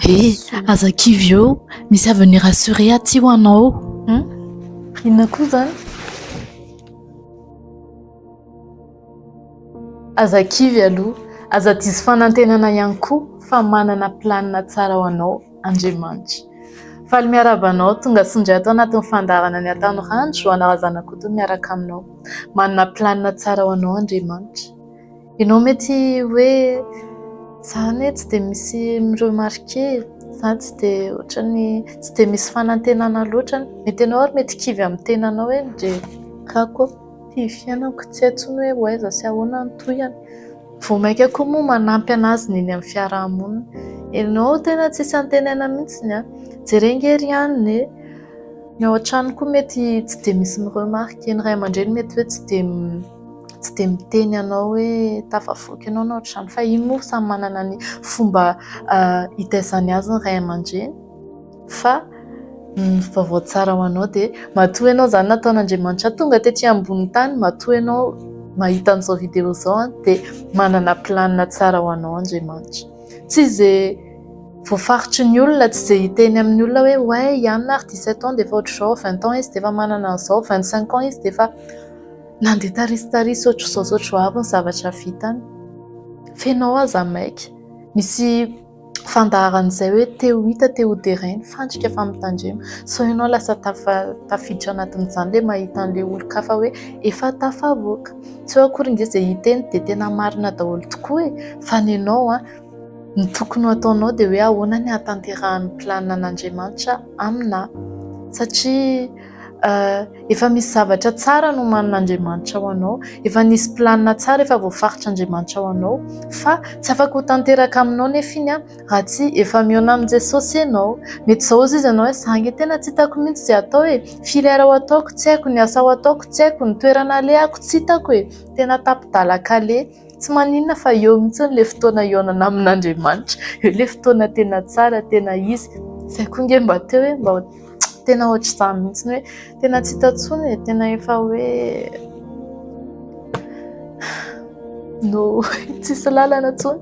He, aza kivy eo, misy avy ny Rassure aty ho anao. Hum, inona koa izany? Aza kivy aloha, aza diso fanantenana ihany koa fa manana planina tsara ho anao Andriamanitra. Faly miarahaba anao tonga soa indray ato anatin'ny fandaharana ny Ataon'i Randry, Juana Razanakoto miaraka aminao. Manana planina tsara ho anao Andriamanitra. Ianao mety hoe za anie tsy dia misy mi-remarquer e, za tsy dia ohatran'ny tsy dia misy fanantenana loatra any, mety ianao ary mety kivy amin'ny tenanao hoe ndry gaga ô, ty fiainako tsy hay intsony hoe ho aiza sy ahoana ny tohiny, vao mainka koa moa manampy an'azy ny eny amin'ny fiaraha-monina, ianao tena tsisy antenaina mihintsy an, jereo ange ry anona e, ny ao an-trano koa mety tsy dia misy mi-remarquer, ny ray aman-dreny mety hoe tsy dia. tsy dia miteny anao hoe tafavoaka ianao na ohatr'izany fa iny moa samy manana ny fomba hitaizany azy ny ray aman-dreny fa ny vaovao tsara ho anao dia matoa ianao izany nataon'Andriamanitra tonga tety ambony tany, matoa ianao mahita an'izao video izao dia manana planina tsara ho anao Andriamanitra. Tsy izay voafaritry ny olona, tsy izay hiteny amin'ny olona hoe oay i Anna ary dix-sept ans dia efa ohatr'izao, vingt ans izy dia efa manana an'izao, vingt-cinq ans izy dia efa... Nandeha tarisitarisy ohatr'izao izao ry Joab ny zavatra vitany. Feno ao aza ny maika. Misy fandaharan'izay hoe te ho hita, te ho deraina, fandrika fa mitandrema. Sao ianao lasa tafiditra anatin'izany ilay mahita an'ilay olon-kafa hoe efa tafavoaka. Tsy eo akory nge izay hiteny dia tena marina daholo tokoa e! Fa ny anao an! Ny tokony ho ataonao dia hoe ahoana ny hahatanterahan'ny planina an'Andriamanitra aminà? Satria. Efa misy zavatra tsara nomanin'Andriamanitra ho anao, efa nisy planina tsara efa voafaritr'Andriamanitra ho anao, fa tsy afaka ho tanteraka aminao anefa iny raha tsy efa mihaona amin'i Jesosy ianao. Mety izao hoy izy ianao hoe, izaho ange tena tsy hitako mihitsy izay hatao e! Firy heure ho ataoko tsy haiko, ny asa ho ataoko tsy haiko, ny toerana alehako tsy hitako e! Tena tapi-dalan-kaleha. Tsy maninona fa eo mihitsy le fotoana hihaonana amin'Andriamanitra, eo le fotoana tena tsara, tena izy, zay koa nge mba teo e, mba tena ohatr'izany mihitsy hoe tena tsy hita intsony e, tena efa hoe no tsisy lalana intsony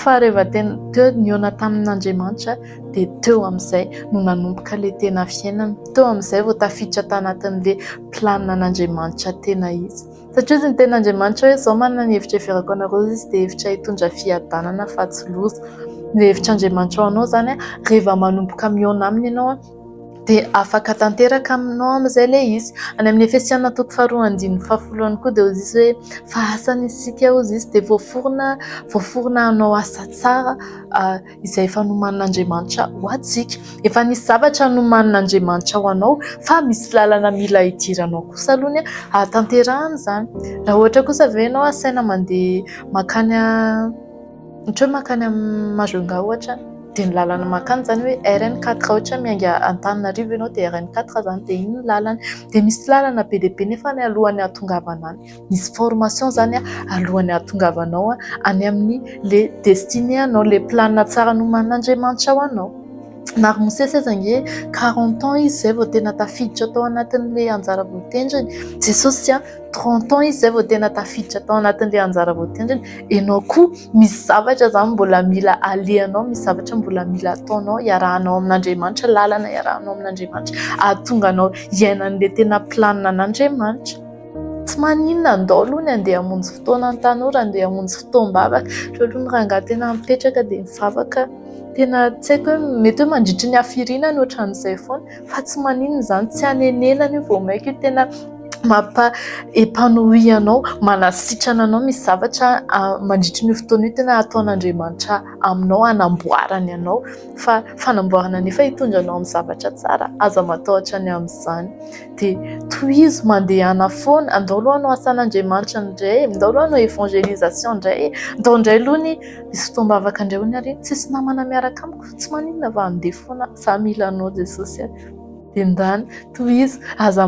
fa rehefa tena teo nihaona tamin'Andriamanitra dia teo amin'izay no nanomboka le tena fiainana, teo amin'izay vao tafiditra tanatin'le planina an'Andriamanitra tena izy. Satria hoy ny tenin'Andriamanitra hoe, Izao manana ny hevitra iheverako anareo Izy, dia hevitra hitondra fiadanana fa tsy loza. Ny hevitr'Andriamanitra ho anao izany, rehefa manomboka mihaona aminy ianao, dia afaka tanteraka aminao amin'izay ilay izy. Any amin'ny Efesiana toko faharoa andininy fahafolo ihany koa dia hoy izy hoe, Fa asany isika hoy izy, dia voaforona, voaforona hanao asa tsara, izay efa nomanin'Andriamanitra ho antsika. Efa nisy zavatra nomanin'Andriamanitra ho anao fa misy lalana mila hidiranao kosa aloha ny hahatanterahana izany. Raha ohatra kosa ve ianao asaina mandeha mankany ohatra hoe mankany amin'ny Majunga ohatra dia ny lalana mankany izany hoe RN 4 ohatra miainga Antananarivo ianao dia RN 4 izany dia iny ny lalany. Dia misy lalana be dia be nefa alohan'ny hahatongavana any. Misy formation zany a alohan'ny ahatongavanao any amin'ny le destine anao, le planina tsara nomanin'Andriamanitra ho anao. Na ry Mosesy aza ange quarante ans izy zay vao tena tafiditra tao anatin'le anjara voatendriny, Jesosy a trente ans izy zay vao tena tafiditra tao anatin'le anjara voatendriny, enao koa misy zavatra zany mbola mila alehanao, misy zavatra mbola mila ataonao iarahanao amin'Andriamanitra, lalana iarahanao amin'Andriamanitra ahatonga anao hiaina an'le tena planina an'Andriamanitra. Tsy maninona andao aloha ny andeha hamonjy fotoana ny tanora andeha hamonjy fotoam-bavaka ireo aloha ny rangahy tena mipetraka dia mivavaka tena tsy haiko hoe mety hoe mandritry ny hafiriana ny ohatran'izay foana fa tsy maninona izany tsy hanenenana io vao mainka io tena mampa epanoui anao manasitrana anao misy zavatra mandritry ny fotoana io tena ataon'Andriamanitra aminao hanamboarany anao fa fanamboarana nefa hitondra anao amin'ny zavatra tsara aza matahotra ny amin'izany dia tohizo mandehana foana, andao aloha hanao asan'Andriamanitra indray, andao aloha hanao évangélisation indray e, andao indray aloha anie hisy fotoam-bavaka indray hono ary, tsisy namana miaraka amiko, tsy maninona fa handeha foana aho, za mila anao Jesosy a, dia ndany tohizo, aza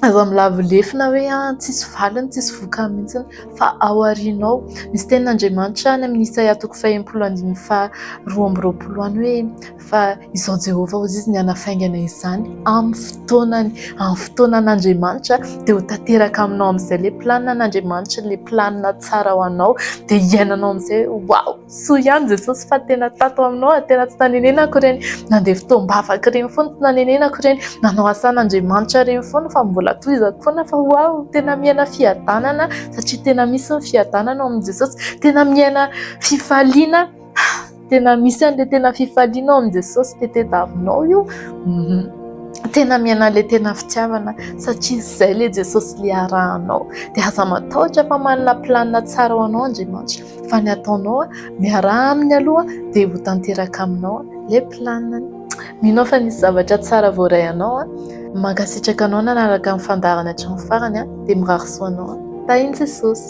aza milavo lefona hoe an tsisy valiny, tsisy vokany mihintsy fa ao aoriana ao, misy tenin'Andriamanitra any amin'ny Isaia toko fahenimpolo andininy faharoa amby roapolo any hoe. fa izao Jehovah hozy izy ny hanafaingana izany amin'ny fotoanany, amin'ny fotoanan'Andriamanitra dia ho tanteraka aminao amin'izay ilay planin'Andriamanitra, ilay planina tsara ho anao dia hiainanao amin'izay hoe waouh soa ihany Jesosy fa tena tato aminao ary tena tsy nanenenako ireny nandeha fotoam-bavaka ireny foana tsy nanenenako ireny nanao asan'Andriamanitra ireny foana fa mbola tohizako foana fa waouh tena miaina fiadanana satria tena misy ny fiadanana ao amin'i Jesosy, tena miaina fifaliana. Tena misy an'ilay tena fifaliana ao amin'i Jesosy be tedavinao io. Tena miaina an'ilay tena fitiavana satria izay ilay Jesosy ilay arahanao. Dia aza matahotra fa manana planina tsara ho anao Andriamanitra. Fa ny ataonao, miaraha aminy aloha dia ho tanteraka aminao ilay planinany. Mino aho fa nisy zavatra tsara voaray anao. Mankasitraka anao nanaraka ny fandaharana hatramin'ny farany dia mirary soa anao. Tahin'i Jesosy.